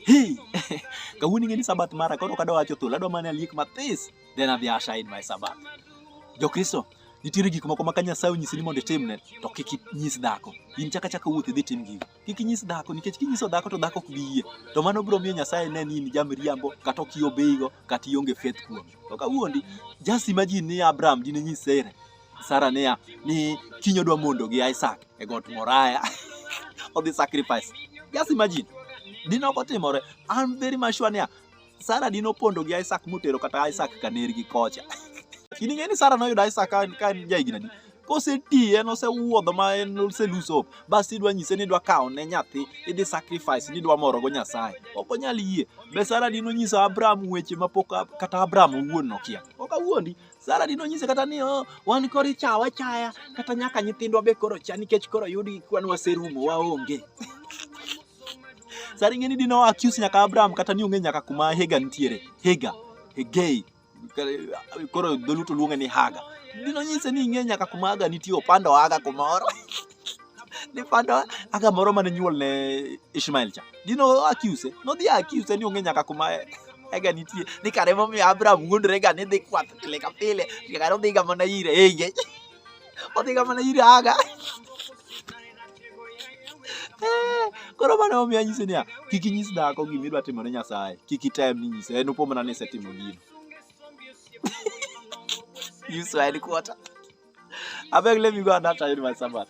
Hey, kawuono ing'e ni sabath mara koro kadwa wacho thul adwa mana aliek mathis then adhi asha in my sabath. Jokristo nitiere gik moko ma ka Nyasaye onyisi ni mondo itimne to kik inyis dhako. In chaka chaka wuoth idhi tim gigo. Kik inyis dhako nikech kinyiso dhako to dhako ok bi yie. To mano biro miyo Nyasaye ne ni in jamriambo kata ok iobeigo kata ionge faith kuome. To kawuondi just imagine ni Abraham dine nyis Sarah Sara niya ni kiny odwa mondo gi Isaac e got Moraya odhi sacrifice. Just imagine. Dino ok otimore. I'm very much sure niya Sara dino pondo gi Isaac motero kata Isaac kaner gi kocha. In ing'e ni Sara noyudo Isaac ka en ja higni adi? Koseti en osewuodho ma en ose lose hope. Bas idwa nyise ni idwa kawo ne nyathi, idhi sacrifice ni idwa morogo Nyasaye. Ok onyal yie. Be Sara dino nyiso Abraham weche ma pok kata Abraham owuon nokia. Ok awuondi. Sara dino nyise kata ni oh, wan koro ichawa chaya kata nyaka nyithindwa be koro cha nikech koro yudi kwan waserumo waonge. Sara ing'eni dino accuse nyaka Abraham kata ni ong'e nyaka kuma Hega nitiere. Hega, Hegei. Koro dholuto luonge ni Haga. Dino nyise ni ing'e nyaka kuma Haga nitie opando Haga kumoro. ni fanda aka moro mane nyuol ne Ishmael cha dino accuse no dhi accuse ni onge nyaka kuma ega nitie ni kare momiyo Abraham wuondore ga ni dhi kwath pile ka pile kare odhi ga mana ire eye odhi ga mana ire aga koro mano omiyo anyise niya kik inyis dhako gima idwa timo ne Nyasaye kik item ni nyise en opo mana ni isetimo gino you swine quarter abeg let me go and after you my sabbath